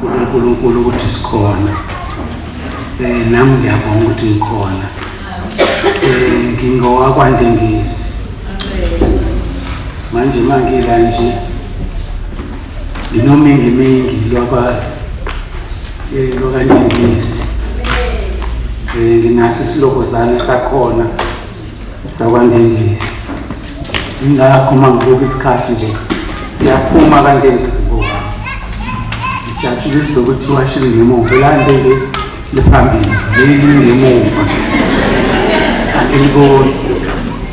Kakhulu uNkulunkulu ukuthi sikhona. Eh nami ngiyabonga ukuthi ngikhona. Eh ngingowakwaNdengezi. Manje mangila nje nginomingi mingi lwakwa eh lwakaNdengezi. Eh nginaso isilokozane sakhona sakwaNdengezi. Ingakho uma ngibuka isikhathi nje siyaphuma kanje ngizibuka. Ngijatshulisa ukuthi washile ngemuva elande lesi liphambili leli ngemuva. Angiliboni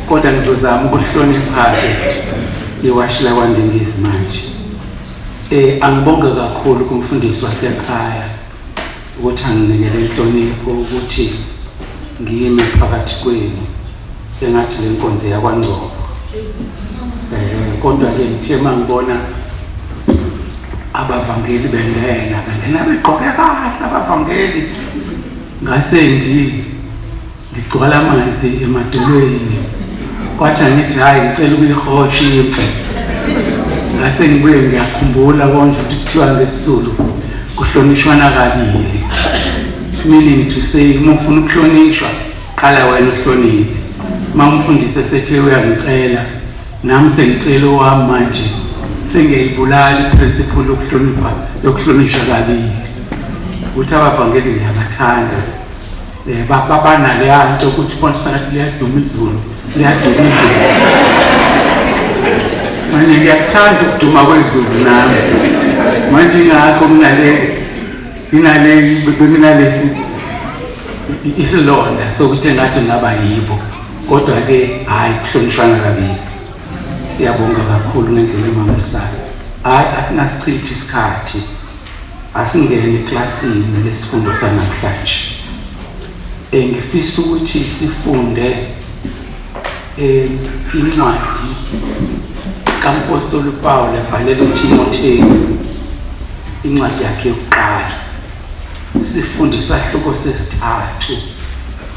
kodwa ngizozama ukuhloniphake iwashi lakwandengezi manje. Eh angibonge kakhulu kumfundisi wasekhaya. ukuthi anginikele inhlonipho ukuthi ngiyime phakathi kwenu engathi le nkonzo yakwangcobo um kodwa-ke ngithe uma ngibona abavangeli bengena bengena begqoke kahle abavangeli ngase ngi Ngigcwala amanzi emadolweni. Kwathi angithi hayi ngicela ukuyihosha impi. Ngase ngibuye ngiyakhumbula konje ukuthi kuthiwa ngesizulu kuhlonishwana kabili. Meaning to say uma ufuna ukuhlonishwa qala wena uhloniphe. Uma umfundisi esethe uyangicela nami sengicela owami manje sengiyayibulala i-principle yokuhlonipha yokuhlonishwa kabili. Ukuthi abavangeli ngiyabathanda. Eh, babanaleya nto ukuthi ifonto sakathi liyaduma izulu liyaduma izulu manje ngiyakuthanda ukuduma kwezulu nami manje ingakho nginale nginale benginalesi isilonda sokuthi ngathi ngaba yibo kodwa-ke hhayi kuhlonishwana kabili siyabonga kakhulu ngendlela emangalisayo hhayi asinasichithi isikhathi Asingene eklasini lesifundo sanamhlanje. Engifisa ukuthi sifunde eh, incwadi kampostoli uPawulu ebhalela uThimotheyu incwadi yakhe yokuqala. Sifunde isahluko sesithathu.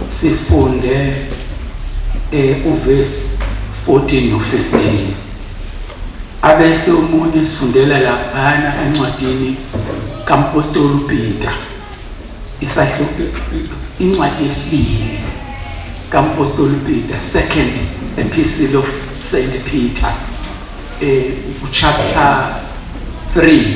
Sifunde eh uvesi 14 no 15. Abese umuntu esifundela laphana encwadini kampostoli uPeter isahluko incwadi yesibili kampostoli uPeter second epistle of Saint Peter eh chapter 3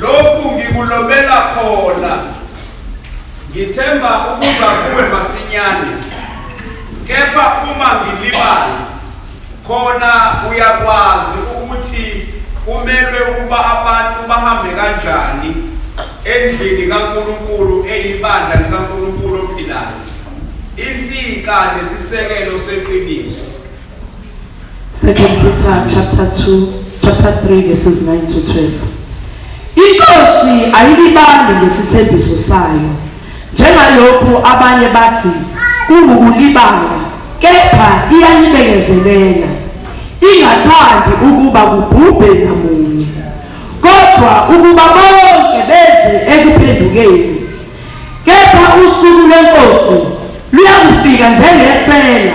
lokhu ngikulobela khona ngithemba ukuza kuwe masinyane kepha uma ngilibala khona uyakwazi ukuthi kumelwe ukuba abantu bahambe kanjani endlini kaNkulunkulu eyibandla likaNkulunkulu ophilayo insika nesisekelo seqiniso Second Peter chapter 2 chapter 3 verses 9 to 12. Inkosi ayilibambi ngesithembiso sayo njengalokhu abanye bathi kungukulibala kepha iyanibekezelela ingathandi ukuba kubhubhe namunye kodwa ukuba bonke beze ekuphendukeni Kepha usuku lweNkosi luyakufika njengesela,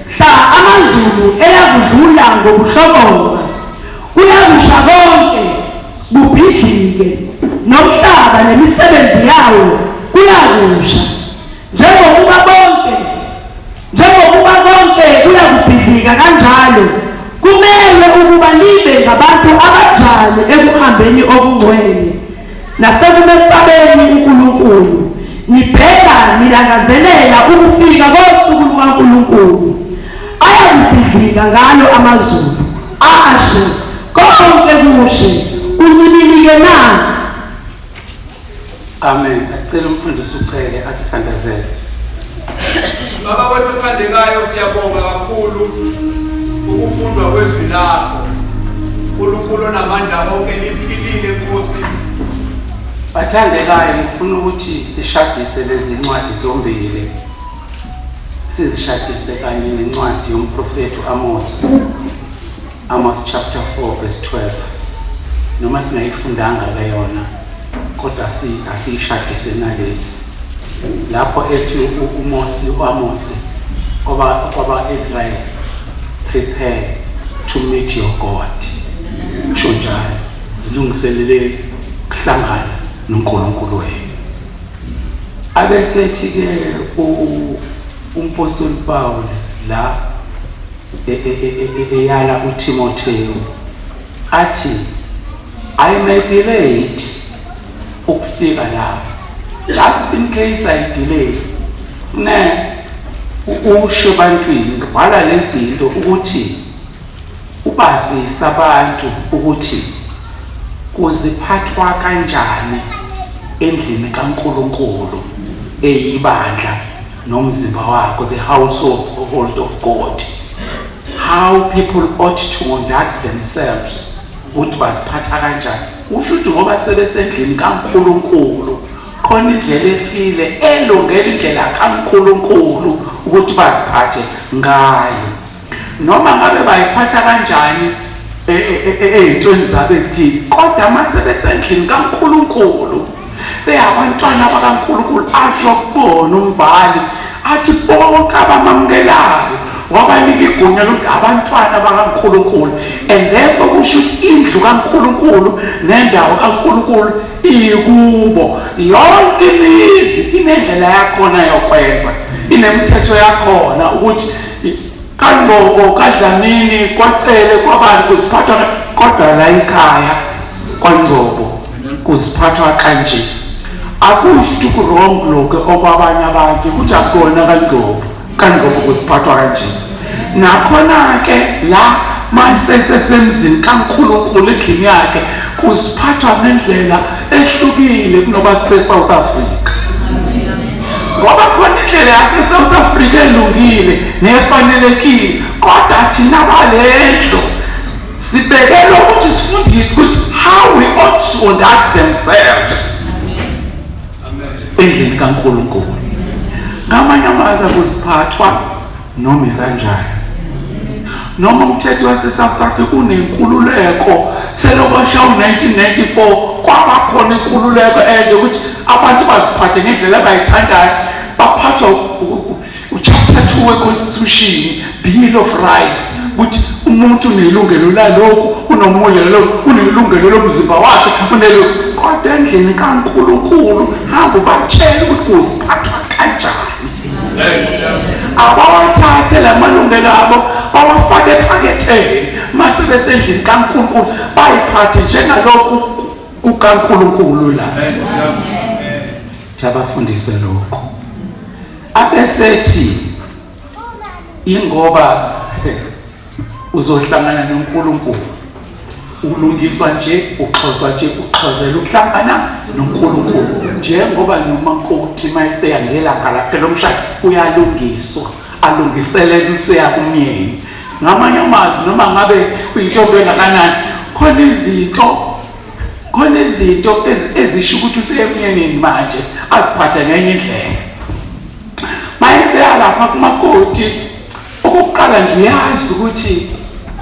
mhla amazulu eyakudlula ngokuhlokoma, kuyakusha konke, kubhidlike, nomhlaba nemisebenzi yawo kuyakusha, njengokuba bonke Njengokuba konke kuyakubhidlika kanjalo, kumelwe ukuba nibe ngabantu abanjani ekuhambeni okungcwele nasekumesabeni uNkulunkulu, nibheka nilangazelela ukufika kosuku lukaNkulunkulu ayakubhidlika ngalo amazulu ashe konke kushe uncibilike na Amen. Asicela umfundisi uCele asithandazele. Baba wethu othandekayo siyabonga kakhulu ukufundwa kwezwi lakho. uNkulunkulu onamandla onke liphilile Nkosi. Bathandekayo ngifuna ukuthi sishadise lezi ncwadi zombili. Sizishadise kanye nencwadi yomprofethi uAmose. Amos chapter 4 verse 12 noma singayifundanga ke yona kodwa si asiyishadise nalezi lapho ethi uMose uAmose kwaba kwaba Israel prepare to meet your God kusho njalo zilungiselele kuhlangana noNkulunkulu wenu abesethi ke umpostoli Paul la eyala uTimothewu athi I may be late ukufika lapha just in case I delay fune usho ebantwini bhala lezinto ukuthi ubazisa abantu ukuthi kuziphathwa kanjani endlini kaNkuluNkulu eyibandla nomzimba wakho the household of god how people ought to conduct themselves ukuthi baziphatha kanjani usho ukuthi ngoba sebesendlini kankulunkulu khona indlela ethile elungela indlela kankulunkulu ukuthi baziphathe ngayo noma ngabe bayiphatha kanjani e, e, e, ey'ntweni zabo ezithile kodwa uma sebesendlini kankulunkulu beyabantwana bakankulunkulu asho kubona umbhali athi bonke abamamukelayo wabanika igunya lokuthi abantwana bakankulunkulu and therefore kusho ukuthi indlu kankulunkulu nendawo kankulunkulu ikubo yonke imizi inendlela yakhona yokwenza inemithetho yakhona ukuthi kangcobo kadlamini kwacele kwabani kuziphathwa kodwa la ikhaya kwangcobo kuziphathwa kanje akusho ukurong lokho okwabanye abantu ukuthi akukona kangcobo kangcobo kuziphathwa kanje nakhona-ke la mayisesesemzini kankulunkulu endlini yakhe kuziphathwa ngendlela ehlukile kunoba sise-south africa ngoba khona indlela yasesouth africa elungile nefanelekile kodwa thina balendlu sibekele ukuthi sifundise ukuthi how we ought to conduct themselves endlini kankulunkulu ngamanye amazwi akuziphathwa noma ikanjani noma umthetho wase-south africa unenkululeko selokosha u-1994 kwabakhona inkululeko ende ukuthi abantu baziphathe ngendlela abayithandayo baphathwa uchapter two weconstitution bill of rights ukuthi umuntu unelungelo laloku unomunye laloku unelungelo lomzimba wakhe unelo kodwa endlini kankulunkulu hamba ubatshele ukuthi kuziphathwa kanjani abawathathe la malungelo abo bawafake ephaketheni mase besendlini kaNkulunkulu bayiphathe njengalokhu kukaNkulunkulu la thabafundise lokho abesethi ingoba uzohlangana noNkulunkulu ulungiswa nje uxhoswa nje uxhozela ukuhlangana noNkulunkulu njengoba noma nkokuthi mayiseya ngelanga lakhe lomshado uyalungiswa alungiselele ukuseya kumyeni ngamanye amazi noma ngabe uyintombi engakanani khona izinto khona izinto ezisho ukuthi useyemnyenini manje aziphathe ngenye indlela mayeseyalapha kumakoti Okokuqala nje uyazi ukuthi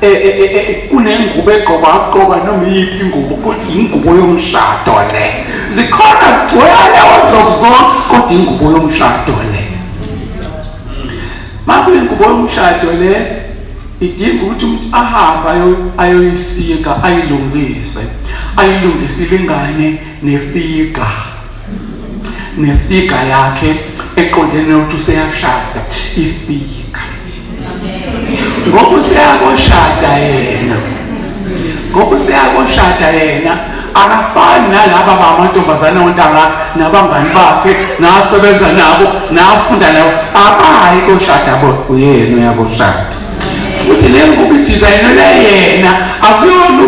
e, e, e, kunengubo egqoka aqoka noma iyiphi ingubo yingubo yomshado le zikhona zigcwele odlovu zonke kodwa ingubo yomshado le makuyingubo yomshado le idinga ukuthi umuntu ahambe ayoyisika ayilungise ayilungisile ingane nefiga nefiga yakhe eqondene nokuthi useyashada ifiga ngoba useyakoshada yena ngoba useyakoshada yena akafani nalaba bamantombazane ontanga nabangani bakhe nasebenza nabo nafunda nabo abayi koshada bo uyena uyakoshada futhi le ngoba idizayinelwe yena akuyona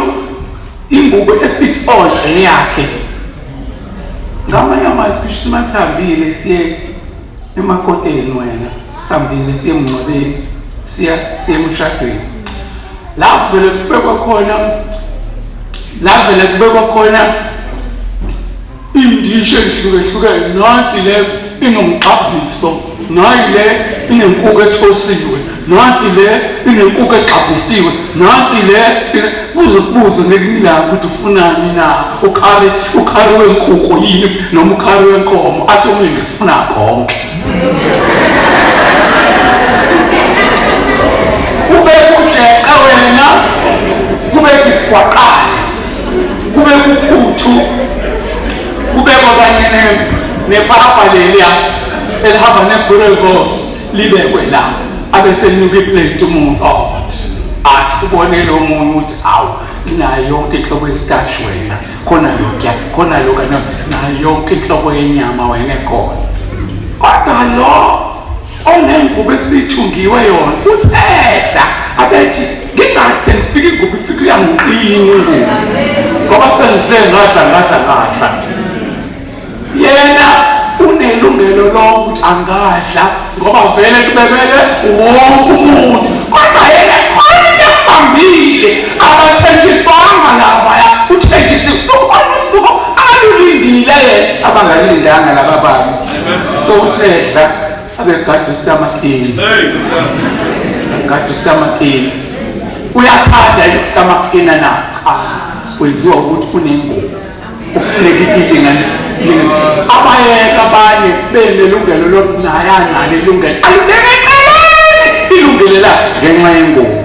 Ingubo efits all eyakhe. Ngamanye amazwi kusho uma sihambile siye emakoteni wena, sihambile siye emngcwabeni, siya siye emshadweni. La kuvele kubekwa khona la vele kubekwa khona Indishi ezihlukehlukene nansi le inomgqabhiso, nayi le inenkukhu ethosiwe, nansi le inenkukhu egqabhisiwe, nansi le kuze kubuze ngelinilanga ukuthi ufunani na ukhari ukhari wenkukhu yini noma ukhari wenkomo athi omunye ngikufuna konke ubekujeqa wena kubeka isigwaqana kube kuphuthu kube kokanyene nepapa leliya elihamba ne-burevos libekwe la abesenuka iplate umuntu ot athi ubonele omunye ukuthi awu nayo yonke inhlobo yesitashi wena khona yokya khona yoka nayo yonke inhlobo yenyama wena ekhona kodwa lo onengubo esithungiwe yona uthehla abethi ngingathi sengifika ingubo ifika uyangiqina ingubo ngoba sengihle ngadla ngadla ngadla yena unelungelo lokuthi angadla ngoba vele kubebele wonke umuntu kodwa yena khona yabambile abathenjiswanga lavaya uthenjisiwe ukhona usuku abalulindile yena abangalindanga laba bantu sowuthedla abegade usitamakini gade usitamakini uyathanda yini usitamakina na cha kwenziwa ukuthi kunengubo ufuneka ikike ngani abayeka abanye benelungelo lokuthi naye analo ilungelo alibeke eceleni ilungelo lakhe ngenxa yengubo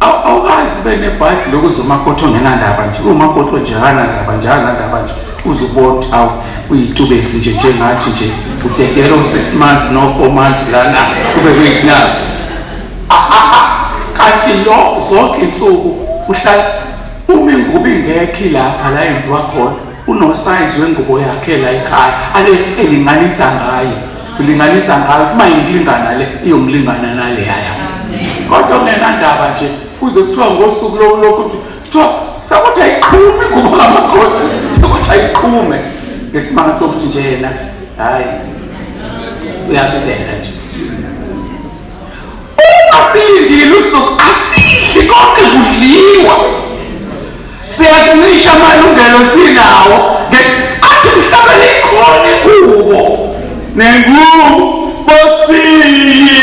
awukazi benebhadi lokuze umakoti ongenandaba nje umakoti onje akanandaba nje akanandaba nje uze uboti awu uyitubesi nje njengathi nje udedela u-six months no-four months lana kube kuyinabo kanti lo zonke insuku uhlala uma ingubo ingekhi lapha la yenziwa khona unosayizi wengubo yakhe la ekhaya ale elinganisa ngayo kulinganisa ngayo uma ingilingana le iyomlingana naleyaya kodwa kungenandaba nje kuze kuthiwa ngosuku lokulokhu kuthiwa sakuthi ayiqhume kuba ngamakhothi sakuthi ayiqhume ngesimanga sokuthi nje yena hhayi uyabibela nje Uma silindile usuku asidli konke kudliwa. Siyazincisha amalungelo sinawo ngenkathi umhlabeni ikhona ingubo nengubo siyiniwe.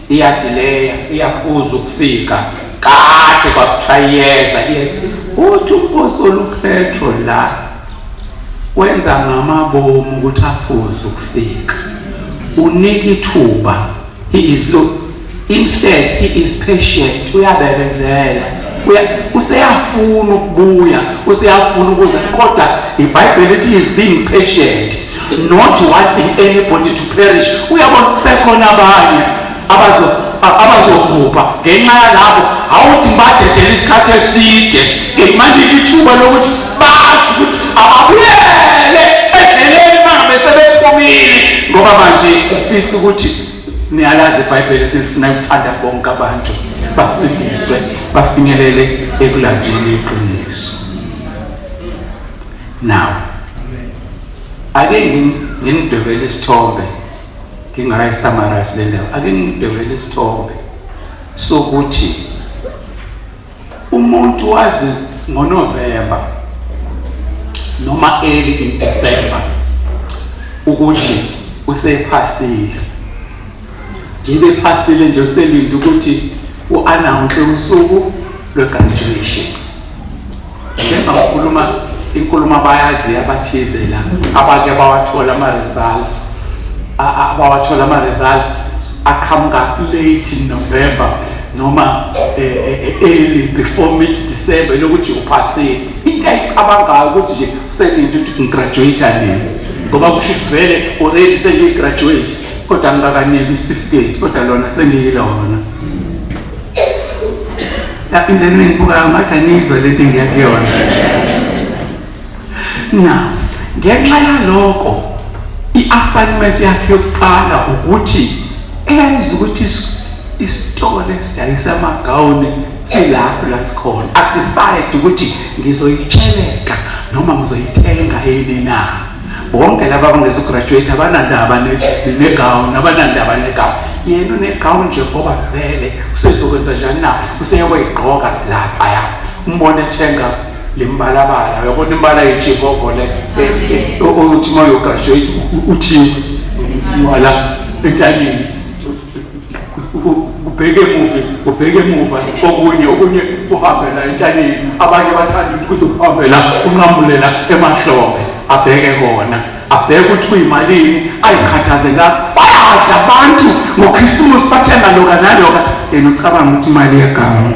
iyadileya iyakhuza ukufika kade kwakuthiwa iyeza iyeza uthi umpostoli upetro la wenza ngamabomu ukuthi aphuze ukufika unika ithuba he is look instead he is patient uyabekezela useyafuna ukubuya useyafuna ukuza kodwa ibhayibheli ithi is being patient not wanting anybody to perish uyabona kusekhona abanye abazobhubha ngenxa yalabo awuthi badedele isikhathi eside ngikumanje ithuba lokuthi bazi ukuthi ababuyele edleleni mangabe sebephumile ngoba manje ufisa ukuthi niyalazi ibhayibheli silifuna ukuthanda bonke abantu basindiswe bafinyelele ekulazini iqiniso now ake nginidwebele isithombe ngingayisamarize le ndawo ake nginidwebele isithombe sokuthi umuntu wazi ngonovemba noma early in december ukuthi usephasile Ngibe phasile nje uselinde ukuthi u-announce usuku lwe-graduation. Njenga ukhuluma inkulumo abayazi abathize la abake bawathola ama-results abawathola ama-results aqhamuka late November noma eh, eh, eh, early before mid December lokuthi uphasile into ayicabangayo ukuthi nje uselinde ukuthi ngigraduate nini ngoba kusho ukuthi vele already sengigraduate kodwa ngikakaneli isitifiketi kodwa lona sengiyilona lapho into enengibukayo ngathi aniyizwa le nto engiya kuyona na ngenxa yaloko i-assignment yakhe yokuqala ukuthi eyayiza ukuthi isitolo esidayisa amagawuni silapho la sikhona adecide ukuthi ngizoyitsheleka noma ngizoyithenga yini na bonke laba bangezograduate abanandaba negawuni abanandaba negawuni yena unegawuni nje ngoba vele usezokwenza njani na useyokweyigqoka laphaya umbona ethenga le mbalabala uyabona imbala yejivovo le uthi uma uyograduate uthiwe wala entanyeni kubheke emuva kubheke emuva okunye okunye kuhambela entshanyeni abanye bathanda ukuthi kuzokuhambela unqamulela emahlombe abheke kona abheke ukuthi kuyimalini ayikhathaze la bayadla abantu ngokhisimusi bathenga loka naloka yena ucabanga ukuthi imali yegama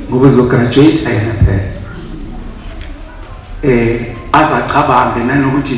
ngoba uzograduate ayena phela um aze acabange nanokuthi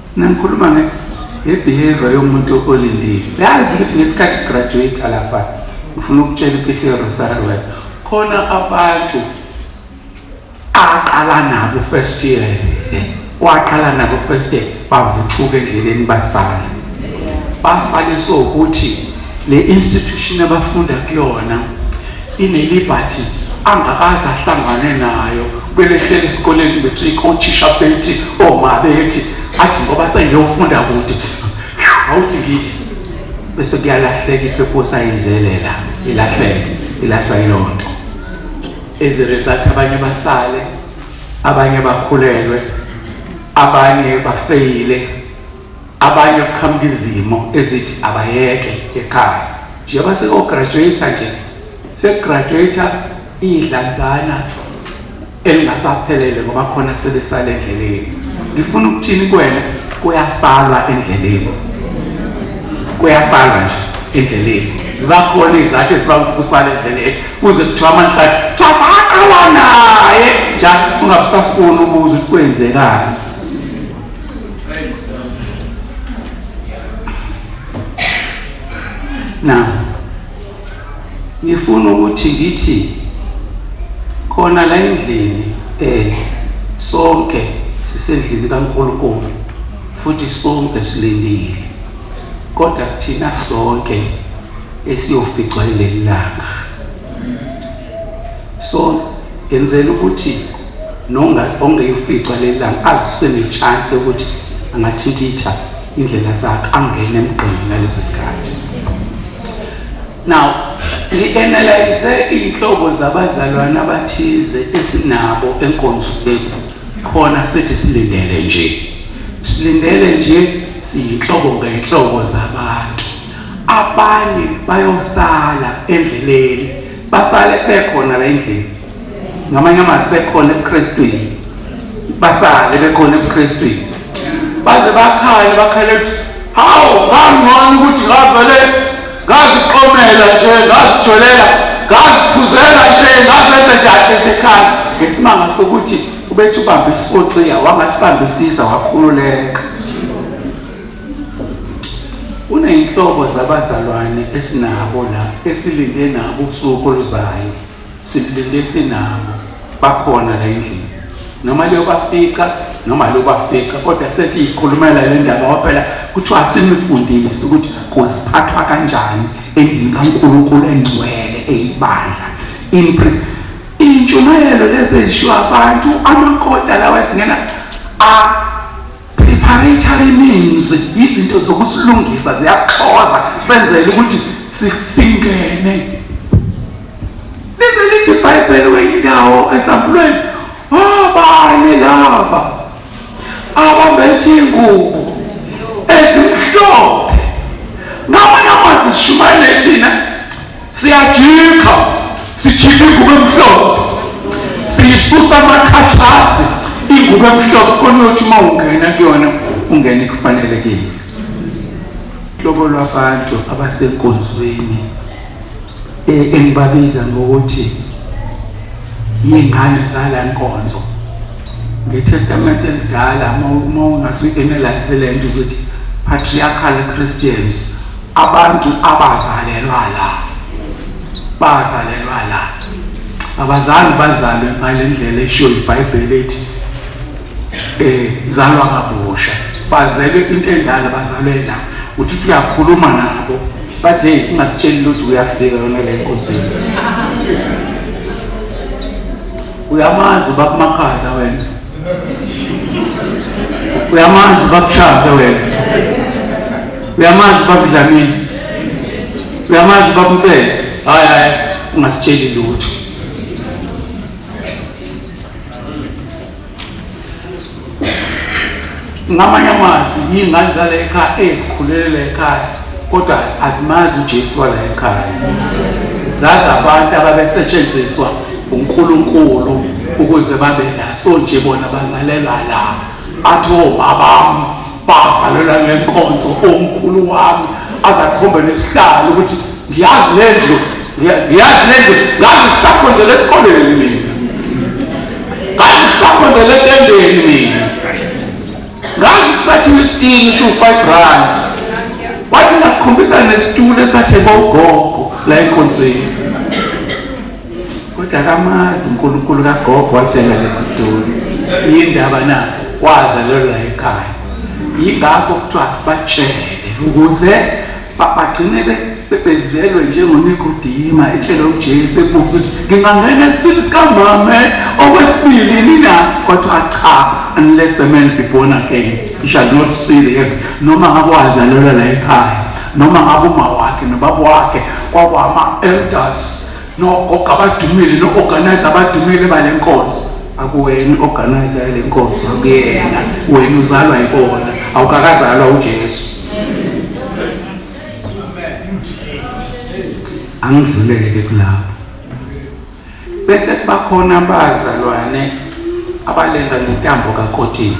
Nangikhuluma nge ngebehavior yomuntu olindile. Yazi ukuthi ngesikhathi graduate lapha ngifuna ukutshela imfihlo yeRosary Work. Khona abantu aqala nabo first year. Kwaqala nabo first year bavuthuka endleleni basala. Basale sokuthi Le institution abafunda kuyona inelibhathi angakaze ahlangane nayo belehlela esikoleni matric othisha bethi oma bethi athi ngoba sengiyofunda kude awuthi ngithi bese kuyalahleka ipurpose ayenzelela ilahleke ilahlwa yiloo nto as a result abanye basale abanye bakhulelwe abanye bafeyile Abanye kuqhamuka izimo ezithi abayeke ekhaya njengoba seko-graduate nje sekugraduate iy'dlanzana elingasaphelele ngoba khona sebesala endleleni ngifuna ukuthini kwena kuyasalwa endleleni kuyasalwa nje endleleni ziba khona izathu eziba kusala endleleni kuze kuthiwa amanhlati kuthiwa saqala naye njalo ungabusafuni ukuze ukuthi kwenzekani na ngifuna ukuthi ngithi khona la endlini eh sonke sisendlini kaNkulunkulu futhi sonke silindile kodwa kuthina sonke esiyoficwa lelanga so ngenzela ukuthi ongeyofica leli langa azi usenechance yokuthi angathintitha indlela zakhe angene emgqini ngaleso sikhathi now ngi-analyze iy'nhlobo zabazalwane abathize esinabo enkonzweni khona sithi silindele nje silindele nje siyinhlobo ngenhlobo zabantu abanye bayosala endleleni basale bekhona la endlini ngamanye amazwi bekhona ebukrestwini basale bekhona ebukrestwini baze bakhale bakhale ukuthi hawu ngangcono ukuthi ngavele ngaziqomela nje ngazijolela ngaziphuzela nje ngazenza njani esekhaya ngesimanga sokuthi ubethi ubambe isisoxiya wangasibambisisa wakhululeka Kuneyinhlobo zabazalwane esinabo la esilinde nabo usuku oluzayo silinde sinabo bakhona la endlini noma liyobafica noma liyobafica kodwa sesiyikhulumela le ndaba ngoba phela kuthiwa simifundisi ukuthi kuziphathwa kanjani endlini kaNkulunkulu engcwele eyibandla impre intshumayelo lezi ezishiwa abantu amakota lawa esingena a Preparatory means izinto zokusilungisa ziyasixhoza senzele ukuthi singene. Bese lithi iBhayibheli weyindawo esampulweni abane oh, lava abambethe ingubo ezimhlophe ngabona kwazishumayele thina siyajikha sijikha ingubo emhlophe siyisusa amakhathazi ingubo emhlophe konothi uma ungena kuyona ungene kufanelekile hlobo lwabantu abasenkonzweni e, engibabiza ngokuthi yingane zala nkonzo ngetestament elidala uma ungasuyi-analyze le nto uzothi patriarchal christians abantu abazalelwa la bazalelwa la abazali bazalwe ngale ndlela eshiwo ibhayibheli ethi um zalwa ngabusha bazelwe into endala bazalwe la uthi uthi uyakhuluma nabo but hey ungasitsheli lutho uyafika yona le nkonzweni Uyamazi ubaba Makhaza wena. Uyamazi ubaba Shaka wena. Uyamazi ubaba Dlamini. Uyamazi ubaba Mtsele. Hayi hayi ungasitsheli lutho. ngamanye amazwi yiy'ngane zala ekhaya ezikhulelela ekhaya kodwa azimazi ujesu wala ekhaya zazi abantu ababesetshenziswa unkulunkulu ukuze babe naso nje bona bazalelwa la athi obabam bazalelwa ngenkonzo omkhulu wami azakhombe nesihlalo ukuthi ngiyazi le ndlu ngiyazi le ndlu ngangisakhonzela esikoleni mina ngangisakhonzela etendeni mina ngangisathile isitini siwu-five rand wathi ngakhombisa nesitulo esatheba ugogo la enkonzweni kodwa akamazi unkulunkulu kagogo watshela lesi sitori yindaba na wazalelwa ekhaya yingakho kuthiwa sibatshele ukuze bagcine bebezelwe njengonikodima etshele ujesu ebuza ukuthi ngingangena esini sikamame okwesibili nina kwathiwa cha unless a man be born again he shall not see the heaven noma ngabe wazalelwa la ekhaya noma ngabe uma wakhe nobaba wakhe kwakwama-elders nogogo abadumile no-organize abadumile bale nkonzo akuwena i-organize yale nkonzo akuyena wena uzalwa yikona awukakazalwa ujesu angidluleke kulapho bese kubakhona abazalwane abalenga ngentambo kakotini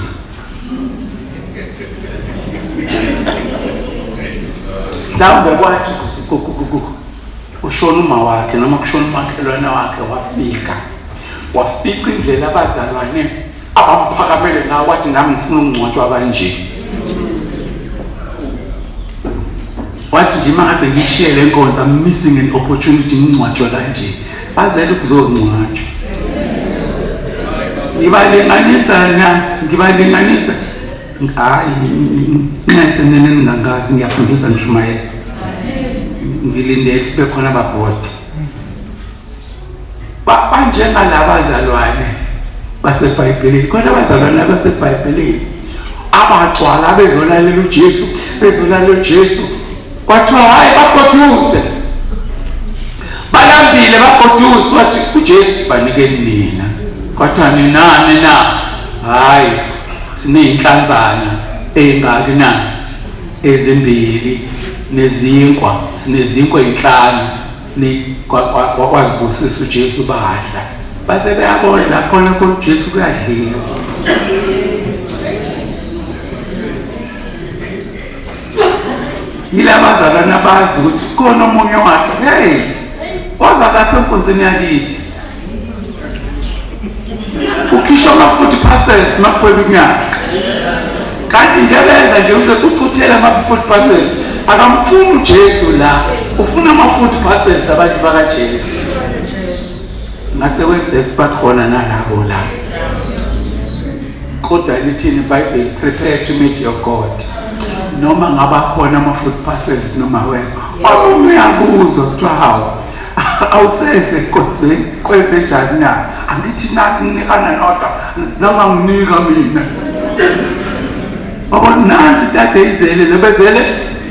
mhlawumbe kwathi Kushona umawakhe noma kushona umakhelwane wakhe wafika wafica indlela abazalwane abamphakamele ngawo wathi nami ngifuna ukungcwatshwa kanje wathi nje uma ngase ngishiye le nkonzo am missing an opportunity ngingcwatshwe kanje bazele ukuzongcwatshwa ngibalinganisa na ngibalinganisa Hayi, nxese nene ningangazi ngiyafundisa nishumayela. Ngilinde ukuthi kube khona ababhodi. Ba- Banjengalaba bazalwane baseBhayibhelini. Khona abazalwane abaseBhayibhelini abagcwala bezolalela uJesu, bezolalela uJesu. Kwathiwa hayi bagoduze. Balambile bagoduze wathi uJesu banikeni nina. Kwathiwa ninani na? Hayi Sineyinhlanzana eyingaki na? Ezimbili nezinkwa, sinezinkwa ezinhlanu ni kwazibusisa uJesu badla. Base beyabodla khona khona uJesu kuyadliwa. yilaba zalana bazi ukuthi khona omunye wathi hey waza lapha enkonzweni yakithi ukhishwa ama-forty percent makuphela unyaka kanti ngebenza nje uze kuchuthele ama-forty percent akamfuni ujesu la ufuna ama-forty percent abantu bakajesu ngase kwenzeka bakhona nalabo la kodwa lithini ibhayibheli prepare to meet your god noma ngaba khona ama-forty percent noma wena omunye uyabuzwa kuthiwa hawu awusese kodze kwenze njani na angithi nathi nginikana nodwa noma nginika mina baba nansi tade izele lebezele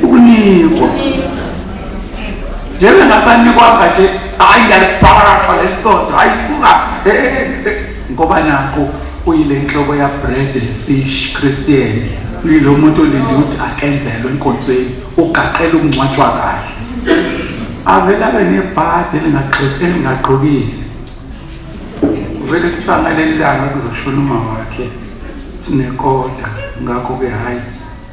ukunikwa njebe ngasanikwanga nje hayi ngiyalibharaqa leli sonto hayi suka eh, eh, eh. ngoba nakho uyile nhloko ya bread and fish christian uyilo muntu olinde ukuthi akenzelwe enkonzweni ugaqela ukungcwatshwa kahle avele abe nebhadi elingaqokile vele kuthiwa ngaleli langa kuzoshona uma wakhe sinekota ngakho-ke hhayi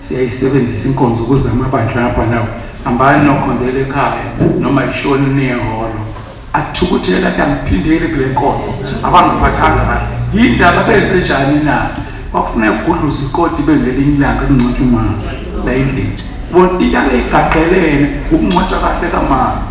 siyayisebenzisa inkonzo ukuze amabandla apha nawo hambani nokhonzela ekhaya noma ishoni niyehholo athukuthele athi angiphindeli kule nkonzo abangiphathanga kahle yindaba benze njani na kwakufuneka kugudluza ikoti bengelinye ilanga kungcotshwa umama layindlini bona iyake igaqelene ukungcotshwa kahle kamama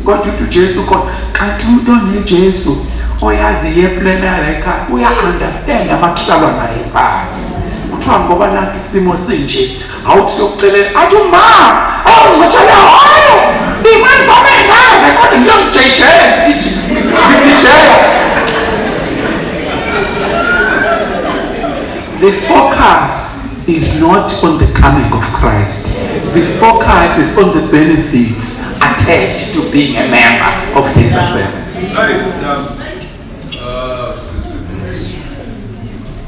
kodwa uthi ujesu khona xathi umuntu onejesu oyazi yeplena yalayikhaya uya-understand amakuhlalwa naye phansi kuthiwa ngoba nakho isimo sinje Hawu sokucelela athi uma awungithola hoyo imali fama engaze kodwa ngiyongijejela ngijejela The focus is not on the coming of Christ. The focus is on the benefits attached to being a member of this assembly.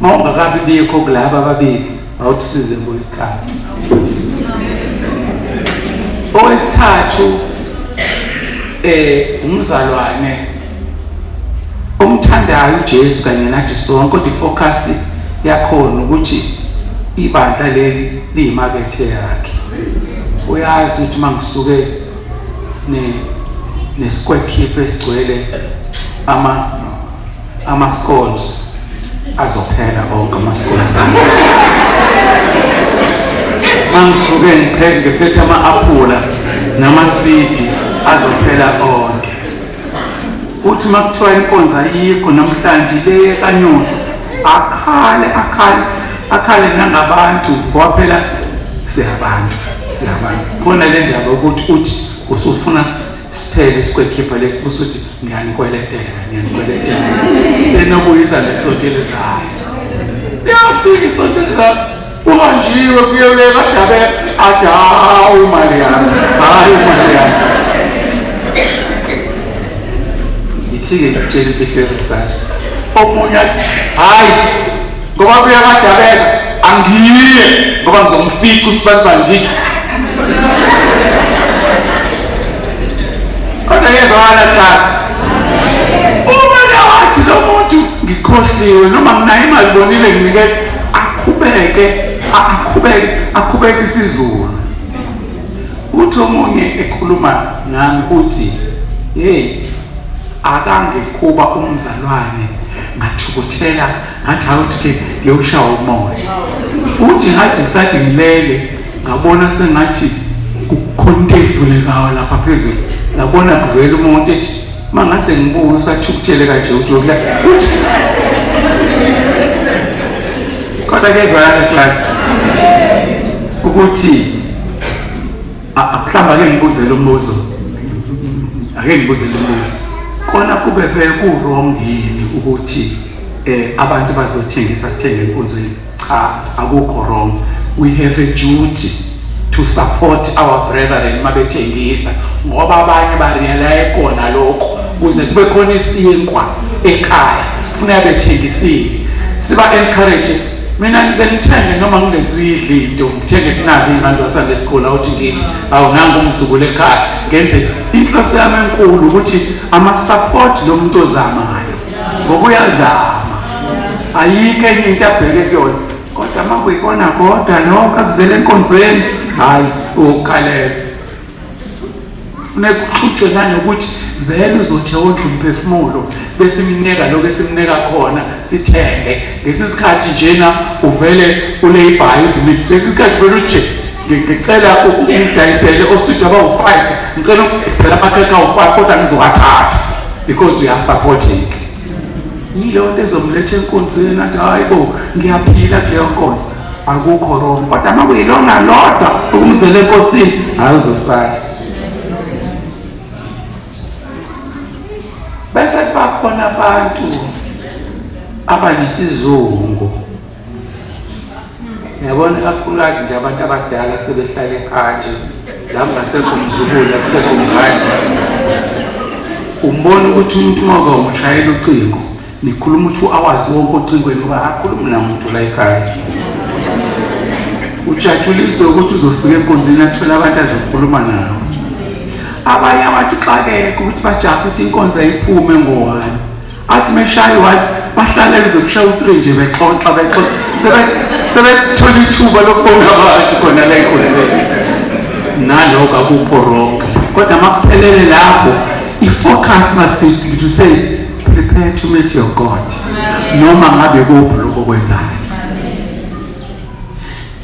mawungakabi bikho kulaba ababili awuthi size ngowesithathu owesithathu eh umzalwane omthandayo uJesu kanye nathi sonke kodwa ifocus yakhona ukuthi ibandla leli liyimakethe yakhe uyazi ukuthi mangisuke nesikwekhipa esigcwele ama ama-scones azophela onke ama-scones mangisuke ngiphethe ama-aphula namasidi azophela onke uthi uma kuthiwa inkonza iyikho namhlanje leye kanyosha akhale akhale akhale nangabantu ngoba phela siyabantu siyabantu khona le ndaba ukuthi uthi usufuna siphele sikwekhipha lesi futhi uthi ngiyanikweletela ngiyanikweletela senokuyisa nesonto elizayo liyafika isonto elizayo Uhanjiwe kuyoleka dabe adawu imali yami. Hayi imali yami. Ngithike ngitshela imfihlelo sanje. Omunye athi hayi ngoba kuyakadabeka angiye ngoba ngizomfica usibanibani ngithi kodwa yezwakala class uma nawathi lo muntu ngikhohliwe noma nginayo imali bonile nginikele aqhubeke aqhubeke aqhubeke isizulu uthi omunye ekhuluma nami uthi hey akangekuba umzalwane ngathukuthela ngathi awuthi ngiyoshawa umoya uthi ngathi ngisathi ngilele ngabona sengathi kukhonto evulekayo lapha phezulu ngabona kuvela umuntu ethi Mangase ngibuye usathukuthele kanje ujokla. Kodwa ke zana class. Ukuthi mhlawumbe ake ngibuze lo mbuzo. Ake ngibuze lo mbuzo. Kona kube vele ku wrong yini ukuthi eh abantu bazothengisa sithenge enkonzweni? cha akukho wrong we have a duty to support our brethren mabethengisa ngoba abanye bariyalaye kona lokho kuze kube khona isinkwa ekhaya funeka bethengisile siba encourage mina ngize ngithenge noma ngingezuyidla into ngithenge kunazi iy'ngane zasande esikhulu awuthi ngithi awu nangu umzukulu ekhaya ngenze inhloso yami enkulu ukuthi ama-support lo muntu ozamayo ngokuyazama ayikho enye into abheke kuyona kodwa uma kuyikona kodwa noko akuzele enkonzweni hhayi ukhalele funeka uxutshwe nanokuthi vele uzothi wondla umphefumulo bese imnika lokho esimnika khona sithenge ngesi sikhathi njena uvele uleyibhayi uthi lesi sikhathi vele uje ngicela ungidayisele oswidi abawu-five ngicela ukudayisela amakhekhe awu-five kodwa ngizowathathi because uyasupporteka yileyo nto ezomletha enkonzweni athi hayi bo ngiyaphila kuleyo nkonzo akukho rong kodwa uma kuyilona lodwa ukumzela enkosini hayi uzosala bese kubakhona abantu abanesizungu yabona ikakhulukazi nje abantu abadala sebehlale ekhaya nje la kungasekho umzukulu akusekho mngane umbona ukuthi umuntu ngoba umshayela ucingo nikhuluma ukuthi awazi wonke ocingweni uba akhulume namuntu la ekhaya ujatshuliswe ukuthi uzofika enkonzweni athole abantu azokhuluma nabo abanye abantu xakeke ukuthi bajahe ukuthi inkonzo ayiphume ngowani athi meshaya i-one bahlale kuze kushaya u-three nje bexoxa bexoxa sebethola ithuba lokubona abantu khona la enkonzweni naloko akukho wrong kodwa makuphelele lapho i-focus must be to say prepare to meet your god noma ngabe kuphi lokho kwenzayo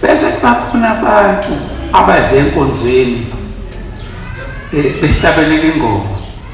bese kubakhona abantu abaze enkonzweni eh, behlabelele ingoma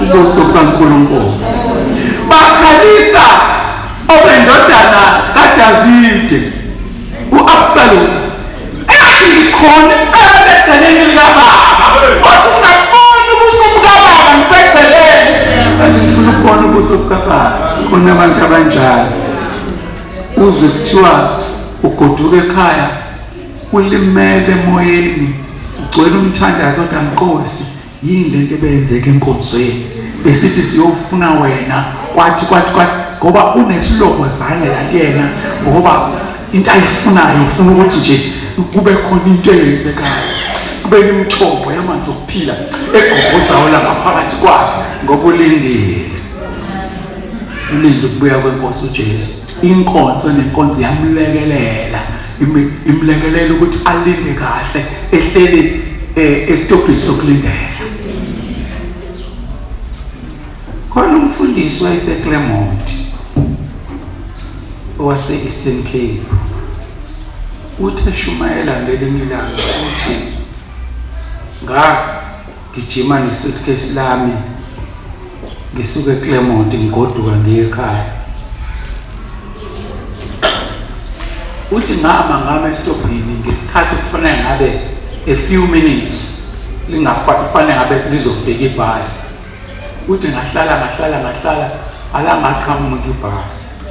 ubuso bukaNkulunkulu. Bakhalisa obendodana kaDavide u-Absalom ethi ngikhona ebedaleni likababa kodwa ungaboni ubuso bukababa ngiseceleni kanti ngifuna ukubona ubuso bukababa khona abantu abanjalo Uzwe kuthiwa ugoduka ekhaya ulimele emoyeni ugcwele umthandazo kodwa mqosi yini lento ebeyenzeka enkonzweni besithi siyofuna wena kwathi kwathi kwathi ngoba unesiloko zange la kuyena ngoba into ayifunayo ufuna ukuthi nje kube khona into eyenzekayo kube imithombo yamanzi okuphila egogozayo langaphakathi kwakhe ngokulindile ulinde ukubuya kwenkosi uJesu inkonzo nenkonzo yamlekelela imlekelela ukuthi alinde kahle ehleli eh, esitobhini sokulindela khona umfundisi wayeseClermont owase-Eastern Cape uthi eshumayela ngelinye ilanga uthi nga Ngijima nesuitcase lami ngisuke eClermont ngigoduka ngiye ekhaya. Uthi ngama ngama esitobhini ngesikhathi kufanele ngabe a few minutes lingafanele ngabe lizofika ibhasi. Uthi ngahlala ngahlala ngahlala alangaqhamuka ibhasi.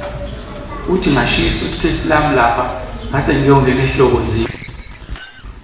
Uthi ngashiya isuitcase lami lapha ngase ngiyongena ehlokozini.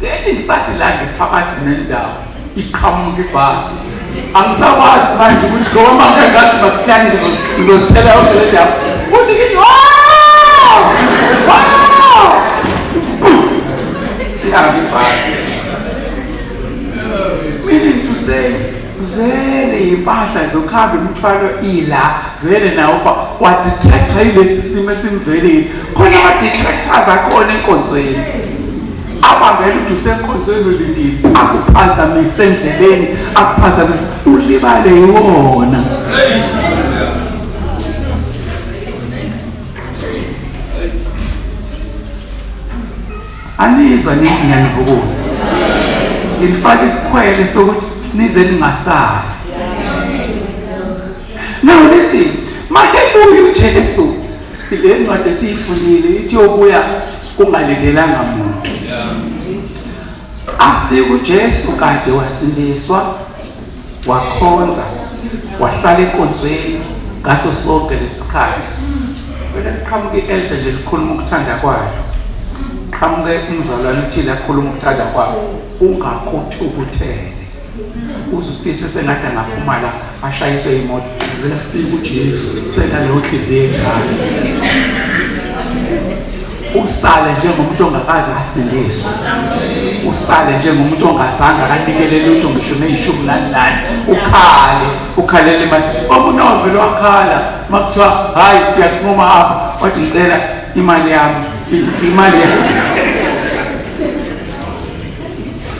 Then ngisathi la ngiphakathi nendawo iqhamuka ibhasi angisakwazi manje ukuthi lo mama engathi masiyane ngizozithela yonke le ndawo futhi ngithi sihambe ibhasi meaning to say vele yimpahla zokuhamba imithwalo ila vele nawo ufa wadetector yilesi simo esimvelile khona amadetectors akhona enkonzweni abambele ukuthi usenkonzweni ulindile akuphazamise endleleni akuphazamise ulibale yiwona anizwa nithi ngiyanivukuza nilifake isikhwele sokuthi nize ningasali now listen mahebuye ujesu le ncwadi esiyifundile ithi yobuya kungalindelanga muntu afike ujesu kade wasindiswa wakhonza wahlala enkonzweni ngaso sonke lesikhathi vele kuqhamuke i-elder nje likhuluma ukuthanda kwayo qhamuke umzalwane uthile akhuluma ukuthanda kwayo ungakuthukuthele uzifise sengathi angaphuma la ashayiswe imoto vele kufika ujesu senaleyo nhliziyo enjalo usale njengomuntu ongakaze asindiswe usale njengomuntu ongazange akanikele lutho ngisho neyishumi nanhlanu ukhale ukhalela imali omunye wavele wakhala uma kuthiwa hhayi siyakunquma apha wathi ngicela imali yami imali yami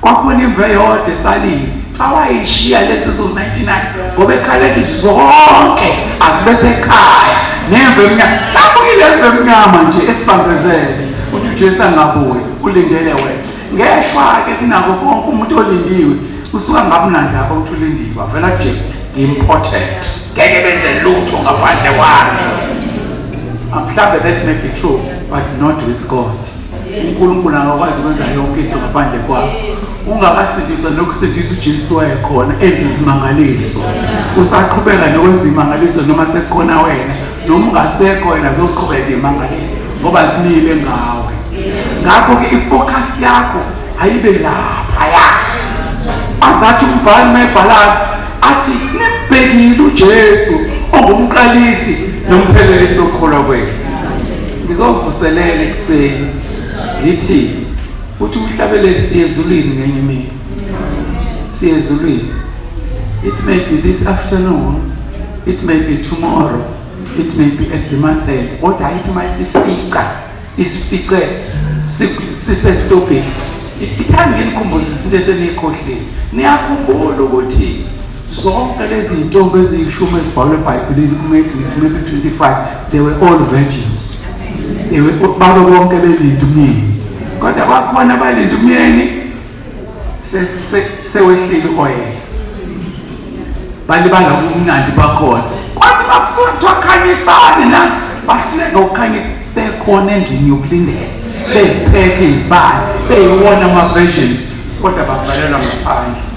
Kwakhona imvu eyodwa esalile awayishiya lezi zo-99 ngoba ekhaleni zonke azibe sekhaya nemvu emnyama hlambukile emvu emnyama nje esibambezele uthi ujesu angabuyi ulindele wena ngeshwa-ke kunako konke umuntu olindiwe usuka ngabunandi apho ukuthi ulindiwe avela nje important ngeke benze lutho ngaphandle kwami mhlawumbe that may be true but not with god uNkulunkulu angakwazi ukwenza yonke into ngaphandle kwakho ungakasindiswa nokusindisa uJesu wayekhona enza izimangaliso usaqhubeka nokwenza imangaliso noma sekukhona wena noma ungasekho wena zoqhubeka imangaliso ngoba simile ngawe ngakho-ke ifocus yakho ayibe laphaya azathi umbhali mayibhalani athi nimbhekile ujesu ongumqalisi nomphelelisi okholwa kwenu ngizovuselela ekuseni ngithi uthi umhlabeleli siyezulwini ngenye imini siyezulwini it may be this afternoon it may be tomorrow it may be at the monday kodwa ayithi uma isifica isifice sisetobhini ithangeni kumbuza isinto eseniyikhohlile niyakhumbula ukuthi Zonke lezi ntombi eziyishumi ezibhalwe eBhayibhelini kuMathewu 25 they were all virgins. They were balo bonke belinde umyeni. Kodwa bakhona abalinde umyeni sewehlile oyela. Balibala ubumnandi bakhona. Kodwa bafuna ukukhanyisana na bahluleka ukukhanyisa bekhona endlini yokulindela beziphethe izibani beyiwona ama-versions kodwa bavalelwa ngaphandle